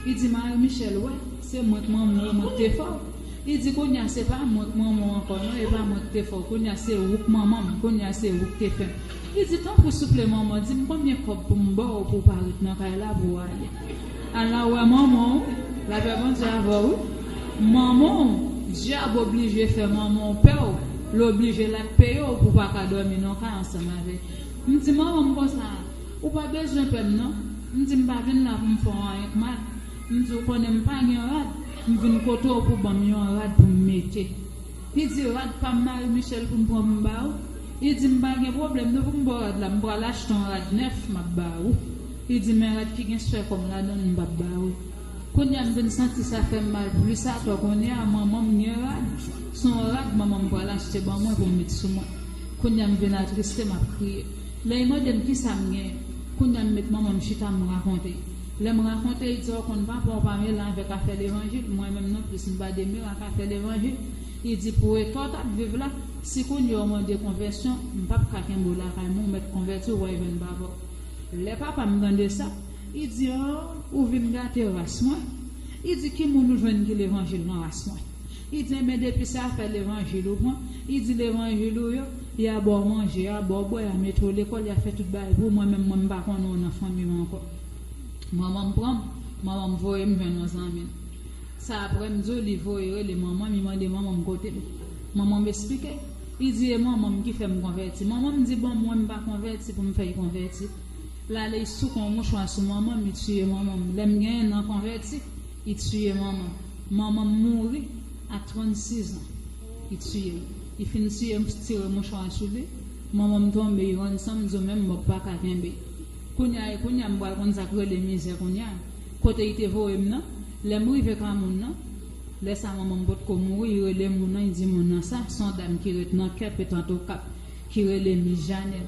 y di Marie Michelle wè se mwen k manman w e mwen k te fè w y di kounya se pa mwen k manman w ankò non e pa mwen k te fè w kounya se ou k manman m kounya se ou k te fè m y di tanpri souple manman di m konbyen kòb pou m ba w pou w pa ret nan kay la pou w ale. Ala wè manman w lapè Bondye avè w manman w dyab oblije fè manman w pè w l oblije lap peye w pou w pa ka dòmi nan kay ansanm avè m di manman m konsa ou pa bezwen pè m non m di m pa vin la pou m fè w anyen k mal m di w konnen m pa gen rad m vin kote w pou w ban m yon rad pou m mete li di rad pa m Marie Michelle pou m pran pou m ba w li di m pa gen pwoblèm non pou m ba w rad la m pral achte yon rad nèf map ba ou. Li di men rad ki gen swè kòm ladann m pap ba ou. Kounya m vin santi sa fè m mal plis atò kounya manman m gen rad, s on rad manman m pral achte ban mwen pou m met sou mwen. Kounya m vin atriste m ap kriye. Lè y mande m kisa m gen, kounya m met manman m chita m rakonte. Lè m rakonte y di ou konn papa w pa mele avèk afè levanjil, mwen menm non plis m pa demele ak afè levanjil. Y di pou eta w t ap viv la, si kounye w mande konvèsyon, m pap ka kenbe w lakay mwen, w mèt konvèti w wè jwenn papa w. Lè papa m tande sa, li di, O, ou vin gate ras mwen. Li di, Ki moun ou jwenn ki levanjil nan ras mwen? Li di, Enben, depi se afè levanjil ou pran, li di, levanjil ou yo, y a ba w manje, y a ba w bwè, y a mete w lekòl, y a fè tout bagay pou w, mwen menm, mwen m pa konnen w nan fanmi m ankò. Manman m pran m, manman m voye m jwenn yon zanmi l. Sa apre m di w li voye rele manman m, li mande manman m kote l. Manman m esplike. Li di e manmanm ki fèm konvèti manmanm di bon mwen mpa konvèti poum fèy konvèti lale i souke yon mouchwa sou manmanm i tiye manmanm lèm gen 1 an konvèti i tiye manmanm manmanm mouri a 36 ans i tiyem i fin tiye m tire mouchwa sou li manmanm tonbe i rann sanm diw menm mòg paka kenbe kounya e kounya mpral konn sak rele mizè kounya kote i te voyem nan lèm rive ka moun nan Lè sa manman m potko mouri y rele moun nan y di moun nan sa s on dam ki ret nan kep etant okap ki rele mis jane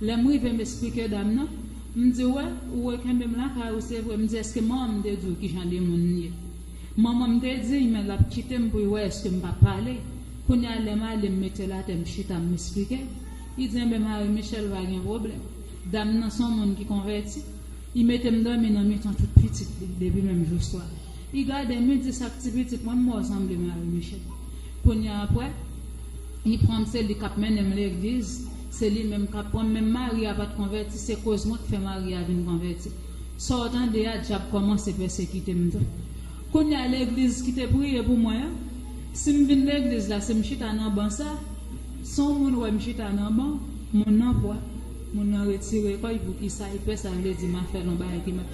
lè m rive m esplike dam nan m di wè ou re kenbe m lakay ou se vre m di eske manman m te di w kijan de moun m ye manman m te di y men l ap kite m pou y wè eske m pa pale kounye a lè m ale m mete l atè m chita m esplike y di enben mari michel pa gen pwoblèm dam nan s on moun ki konvèti. I metem domi nan mitan tout pitit li depi menm jou swa I gadem I di sak ti pitit mwen mò sanble mari Michel kounya aprè I pranm se li kap mennenm legliz se li menm kap pranm menm mari a pat konvèti se koz mwen ki fè mari a vin konvèti Saw tande a dyab kòmanse pèsekitem tou kounya legliz ki te priye pou mwen an sim vin legliz la sim chita nan ban sa Saw moun wèm chita nan ban moun nan pwa. Moun nan retire kòy poukisa ypè sa vle di map fè lon bagay ki mal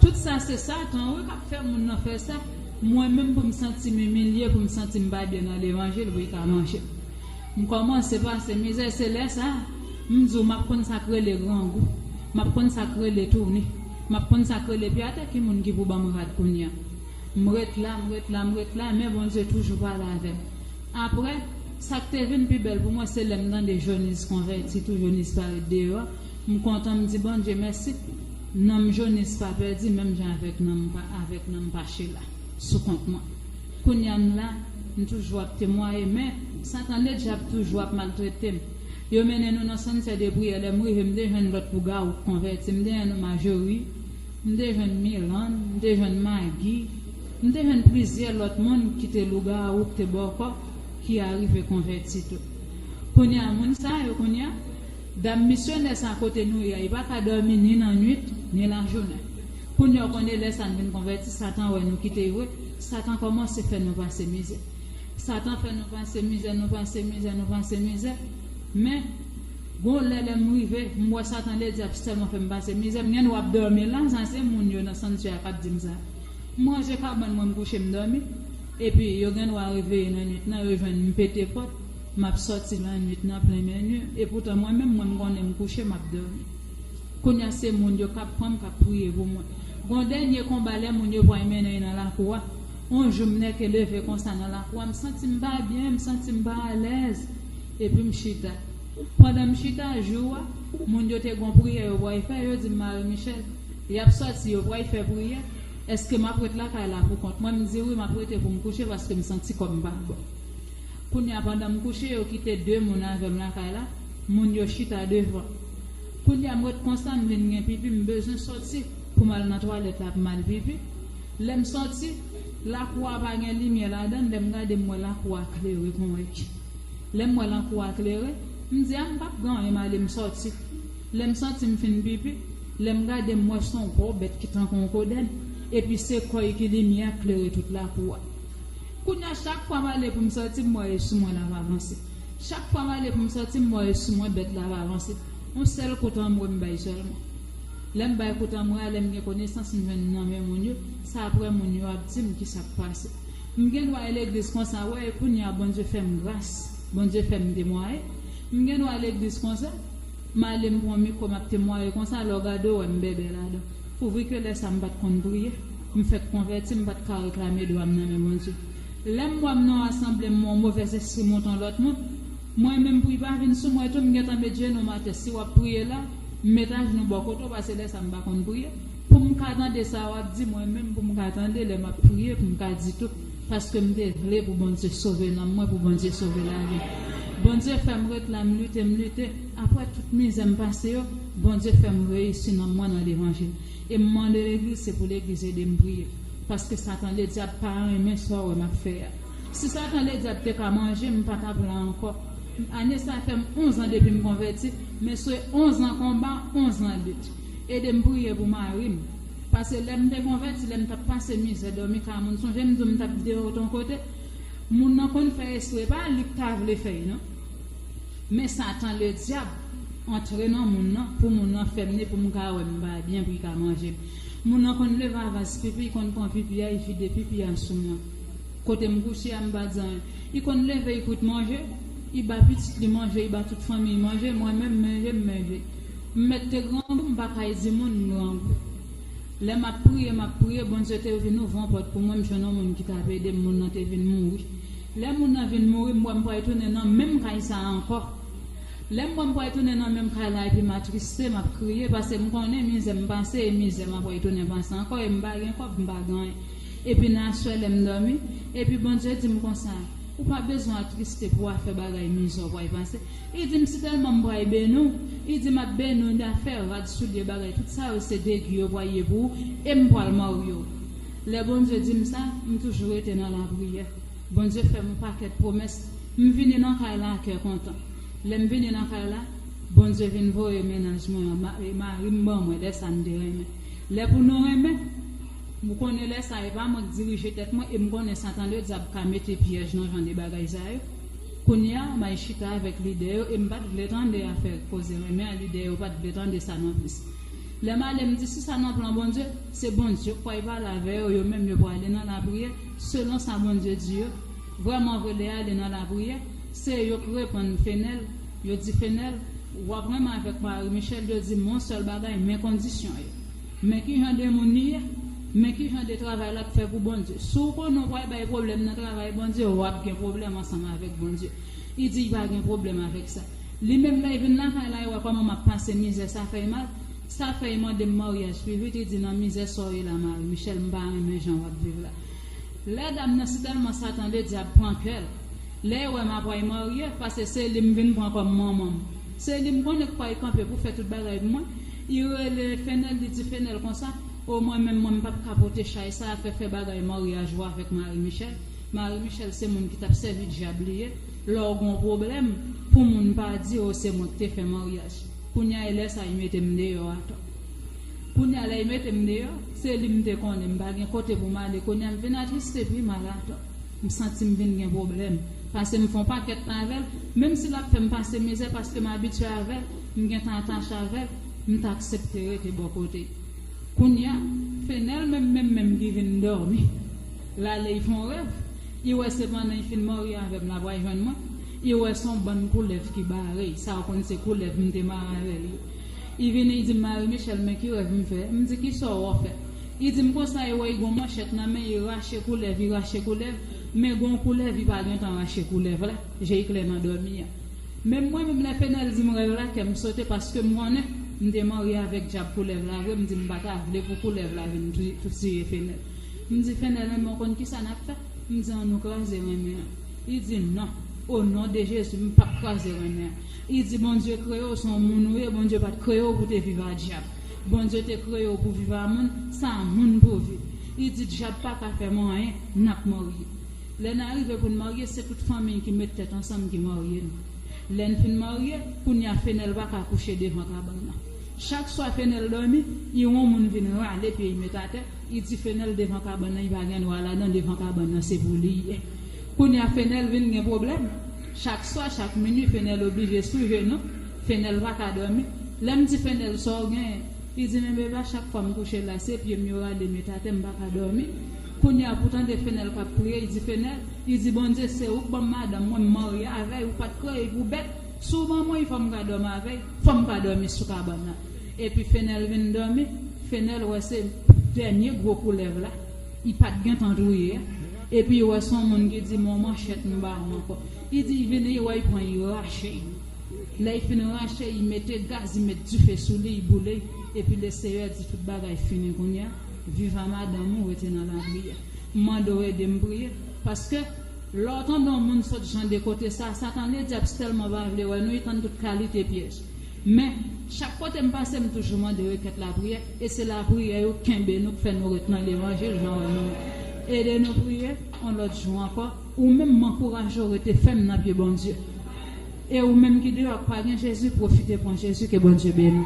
tout sa se satan wi kap fè moun nan fè sa mwen menm poum santim imilye poum santim pa byen nan levanjil wi ka manje m kòmanse pase mizè se lè sa m di w map konn sak rele grangou map konn sak rele touni map konn sak rele pye atè ki moun ki pou banm rad kounya m ret la m ret la m ret la men Bondye toujou pale avèm. Apre, sa k te vin pi bèl pou mwen se lè m tande Joniz konvèti tou, Joniz pa ret deyò a. M kontan, m di Bondye mèsi, nanm Joniz pa pèdi menm jan avèk nanm pa avèk nanm pa Chela sou kont mwen. Kounye a m la, m toujou ap temwaye men, Satan le dyab toujou ap maltrete m. Yo mennen nou nan sanntè de priyè lè m rive m te jwenn lòt pou Gaou k konvèti, m te jwenn Majorie, M te jwenn Milan, m te jwenn Magi, m te jwenn plizyè lòt moun ki te lougawou k te bòkò ki arive konvèti tou. Kounye a moun sa yo kounye a, dam misyonè sa kote nou ye a, yo pa ka dòmi ni nan nwit, ni lajounen. Kounye a w konnen lè sa n vin konvèti, Satan wè nou kite vre, Satan kòmanse fè nou pase mizè. Satan fè nou pase mizè, nou pase mizè, nou pase mizè. Men. Gon lè lèm rive m wè satan le diab sèlman fèm pase mizè m gen dwa ap dòmi lan sa se moun yo nan sanktyè a kap dim sa m ranje kabann mwen m kouche m dòmi epi yo gen dwa reveye nan nwit lan yo jwenn m pete pòt map sòti lan nwit nan plen men nu epoutan mwen menm mwen m konnen m kouche map dòmi kounya se moun yo kap pranm kap priye pou mwen gon dènye konba lè moun yo pway mennen nan lakou a on jou m nèke leve konsa nan lakou a m santim pa byen m santim pa alèz Epi m chita. Pandan m chita, jou a, moun yo te gon priyè yo pway fè, yo di m Marie Michelle, yap sòti, yo pway fè priyè, eske map ret lakay la pou kont mwen, m di wi map rete pou m kouche paske m santi kò m pa bon. Kounye a pandan m kouche, yo kite 2 moun avè m lakay la, moun yo chita devan. Kounye a m ret konsa, m vin gen pipi, m bezwen sòti pou m al nan twalèt la pou m al pipi, lè m sòti, lakou a pa gen limyè ladan l, lè m gade m wè lakou a klere kon. Lè m wè lankou a klere, m di a m pap gen anyen m ale m sòti. Lè m santi m fin pipi, lè m gade m wè s on gwo bèt ki tankou on kodenn epi se kò y ki limyè k klere tout lakou a. Kounye a chak fwa m ale pou m sòti m wè e sou mwen l ap avanse. Chak fwa m ale pou m sòti m wè e sou mwen bèt la ap avanse. On sèl kout anmwe m bay sèlman. Lè m bay kout anmwe a lè m gen konesans m jwenn nan men moun yo, se aprè moun yo ap di m kisa k pase. M gen dwa e legliz konsa wè e kounya Bondye fèm gras Bondye fèm temwaye m gen dwa e legliz konsa m ale m pran mikro map temwaye konsa lè w gade w wè m bèbè ladan pou vri ke lè sa m pat konn priye m fèk konvèti m pat ka reklame dwa m nan men Bondye lè m wè m nan yon asanble m wè yon movè zespri monte yon lòt moun mwen menm pri pa vin sou mwen tou m gentan met jenou m atè si wap priye la m met ajnou bò kote w pase lè sa m pa konn priye. Pou m ka tande sa wap di mwen menm pou m ka tande lè map priye pou m ka di tout paske m te vle pou Bondye sove nanm mwen pou Bondye sove lavi m Bondye fè m ret la m lite m lite aprè tout mizè m pase yo Bondye fè m reyisi nanm mwen nan levanjil e m mande legliz se pou legliz ede m priye paske satan ledyab pa renmen sa w wè map fè a si satan ledyab te ka manje m pa tap la ankò ane sa fè m 11 an depi m konvèti men se 11 an konba 11 an lit. Edem priye pou marim. Pase lèm te konvèti lèm tap pase mizè dòmi ka moun sonjem diw mtap kite w ton kote moun nan konn fè espre pa lik ta vle fèy non men satan le dyab antre nan moun nan pou moun nan fèmne poum ka wè m bay byen pri ka manjem moun nan konn leve avans pipi i konn pran pipi a i vide pipi a sou mwen kotem kouche a mpa di anyen i konn leve i kwit manje i ba pitit li manje i ba tout fanmiy manje mwen menm menjem menje. M mèt te grangou m pa kay di moun m grangou lè map priye map priye Bondye te vin ouvri yon pòt pou mwen m jwenn yon moun ki t ap ede m moun nan te vin mouri lè moun nan vin mouri m wè m pral tounen nan menm kay sa a ankò lè m wè m pral tounen nan menm kay la epi m atriste map kriye paske m konnen mizè m pase e mizè m ap pral tounen pase ankò e m pa gen kòb m pa gen anyen epi nan aswè lè m dòmi epi Bondye di m konsa ou pa bezwen atriste pou afè bagay mizè w pral pase. I di m si telman m bray beny w I di map beny w da fè rad soulye bagay tout sa yo se degi yo bway ye pou w e m pwal marye w lè Bondye di m sa m toujou rete nan lapriyè Bondye fè m on pakèt pwomès m vini nan kay la a kè kontan lè m vini nan kay la Bondye vin voye mennaj mwen an mari m ban mwen lè sa n te renmen lè pou nou renmen m ou konnen lè sa e pa mwen k dirije tèt mwen e m konnen satan le dyab ka mete pyèj nan jan de bagay sa yo. Kounya may chita avèk lidè yo e m pat vle tande afè koze renmen an lidè yo pat vle tande sa nonplis. Lè m ale m di si sa nan plan Bondye, se Bondye k pway pale avè yo yo menm yo pwale nan lapriyè selon sa Bondye di yo, vrèman vre lè ale nan lapriyè se yo k reponn Fenel, yo di Fenel wap renmen avèk Marie Michelle yo di m on sèl bagay men kondisyon yo. Men ki jan de moun li ye, men ki jan de travay l ap fè pou Bondye. Si w konnen w pral bay pwoblèm nan travay Bondye, w ap gen pwoblèm ansanm avèk Bondye. Li di li pa gen pwoblèm avèk sa. Li menm lè l vin lakay la, li wè kòman m ap pase mizè, sa fè l mal. Sa fè li mande m maryaj. Pi vit li di, nan mizè sa w ye la Mari Michèl, m pa renmen jan w ap viv la. Lè dam nan sitèlman sa tande dyab pran kè l. Lè l wè m ap pral marye, paske se li m vin pran kòm manman m. Se li m konnen k pral kanpe pou fè tout bagay pou mwen. I rele Fenèl, li di Fenèl konsa, O mwen menm, mwen m pap ka pote chay sa a fè fè bagay maryaj ou avèk Mari Michèl. Mari Michèl se moun ki t ap sèvi dyab li ye. Lè w gen yon pwoblèm, pou moun pa di o se mwen ki te fè maryaj. Kounye a e lè sa a i mete m deyò atò. Kounye a lè i mete m deyò, se li m te konnen, m pa gen kote pou m ale. Kounye a m vin atriste epi m al atò. M santi m vin gen pwoblèm. Pase m fè yon pakèt tan avè l. Menm si l ap fè m pase mizè paske m abitye avè l, m gen tan atache avè l, m t aksepte rete bò kote. Kounye a, Fenel menm menm menm ki vin dòmi l ale y fè yon rèv, y wè se pandan y fin marye avè m l apral jwenn mwen, y wè s on bann koulèv ki bare y, sa w konn se koulèv m te mare avè l yo. Y vini y di m, Marie-Michelle men ki rèv m fè? M di, Kisa w wè w fè? I dim konsa e wè i gon manchèt nan men i rache koulèv i rache koulèv men gon koulèv i pa gentan rache koulèv la je i klè nan dòmi an menm mwen menm lè Pènèl dim rèv la kèm sote paskem konnen m te marye avèk djab koulèv la vre m dim pa ta vle pou koulèv la vin tiye Pènèl m di Pènèl renmen w konn kisa nap fè m di an nou kraze renmen an i di non o non de Jezi m pap kraze renmen an i di Bondye kreye w son moun ou ye Bondye pat kreye w pou te viv a djab. Bondye te kreye w pou viv a moun sa moun pou viv i di dyab paka fè mou anyen nap marye lè na rive pou n marye se tout fanmiy ki met tèt ansanm ki marye n lè n fin marye kounya fenèl paka kouche devan kabann nan chak swa fenèl dòmi i won moun vin rale pye i met atè i di fenèl devan kabann nan i pa gen dwa ladan devan kabann nan se pou li ye kounya fenèl vin gen pwoblèm chak swa chak minwi fenèl oblije sou jenou Fenel pa ka domi, lè m di Fenel sa w genyen? Li di men Beba chak fwa m kouche la se pye m yo rale met atè m pa ka domi. Kounye a pou tande Fenel k ap priye li di Fenel, li di Bondye se ou k ban m madanm mwen m marye avè y ou pat kreye y pou bèt, si w ban mwen y fò m ka domi avè y, fò m ka domi sou kabann nan. Epi Fenel vin domi, Fenel wè se dènye gwo koulèv la, y pat gentan touye a, epi y wè s on moun ki di m on manchèt m ba w ankò. Li di y vini y wè y pran y rache y. Lè y fin ranche, y mete gaz, y met dife sou li, y boule, epi Leseyè di, Tout bagay fini kounye a, viv a madanm ou, rete nan lapriyè. M mande w ede m priye. Paske, lè w tande yon moun sot jan de kote sa a, sa ta vle di ap sèlman pa vle wè nou, y tann tout kalite pyèj. Men, chak kote m pase, m toujou mande rekèt lapriyè, e se lapriyè yo kenbe nou, k fè nou ret nan levanjil jan w wè nou an. Ede nou priye, yon lòt jou ankò. Ou menm m ankouraje w rete fèm nan pye Bondye e ou menm ki deyò ak pa gen Jezi pwofite pran Jezi ke Bondye beniw.